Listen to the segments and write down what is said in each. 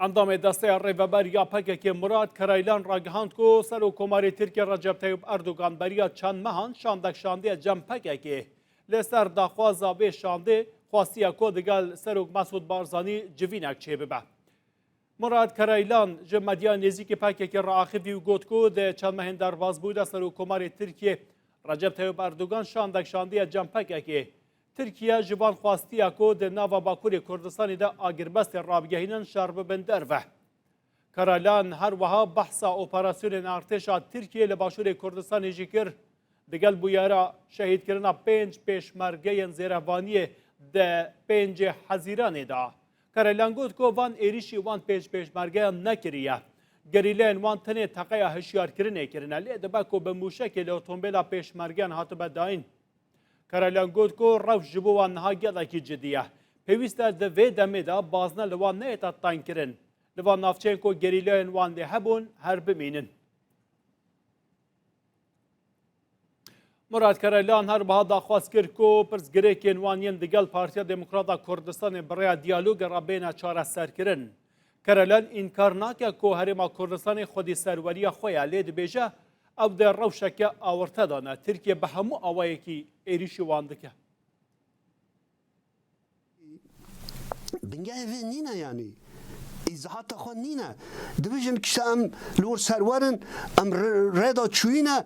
Endamê desteya rêveber ya PKK'ê Murat Karaylan ragihand ku Serokkomarê Tirkiye Recep Tayyip Erdogan beriya çend mehan şandek şandiye cem PKK'ê. Lê ser daxwaza vê şandê xwastiye ku digel Serok Mesûd Barzanî civînek çêbibe. Murat Karaylan ji medya nêzîkî PKK'ê raaxivî û got ku di çend mehên derbasbû de Serokkomarê Tirkiye Recep Tayyip Erdogan şandek şandiye cem PKK'ê. Tirkiye ji van xwestiya ku di nava Bakurê Kurdistanê de agirbestên rabigehînin şer bibin derve. Karaylan her wiha behsa operasyonên artêşa Tirkiyeyê li Başûrê Kurdistanê jî kir, digel bûyera şehîdkirina pênc pêşmergeyên Zêrevvaniyê di pêncê Hezîranê de. Karaylan got ku van êrîşî wan pênc pêşmergeyan nekiriye. Gerîleyên wan tenê teqeya hişyarkirinê kirine lê dibe ku bi mûşekê li otombêla pêşmergeyan hatibe dayîn. Karalyan got ku rewş ji bo wan niha gelekî cidî ye. Pêwîst e di vê demê de bazne li wan neyêta tengkirin. Li van navçeyên ku gerîlayên wan lê hebûn her bimînin. Murat Karalyan her biha daxwaz kir ku pirsgirêkên wan yên digel Partiya Demokrata Kurdistanê bi rêya diyaloge re bêne çareserkirin. Karelen înkar nake ku Herêma Kurdistanê xwedî serweriya xwe ya, lê dibêje ew di rewşeke awirte de ne. Tirkiye bi hemû awayekî êrîşî wan dike. Bingehê vê nîne yanî îzahata xwe nîne. Dibêjin kişta em li wir serwer in, em rê da çûyî ne.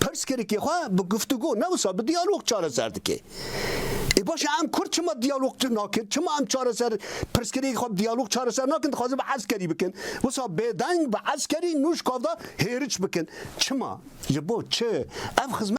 Pirsgirêkê xwe bi guftûgo ne wisa bi diyalog çareser dike. Ê baş e em kurd çima diyalog nakin? Çima em çareser pirsgirêkê xwe bi diyalog çareser nakin dixwazin bi eskerî bikin? Wisa bêdeng bi eskerî nûj kavda hêriç bikin. Çima? Ji bo çi? Ev xizmet.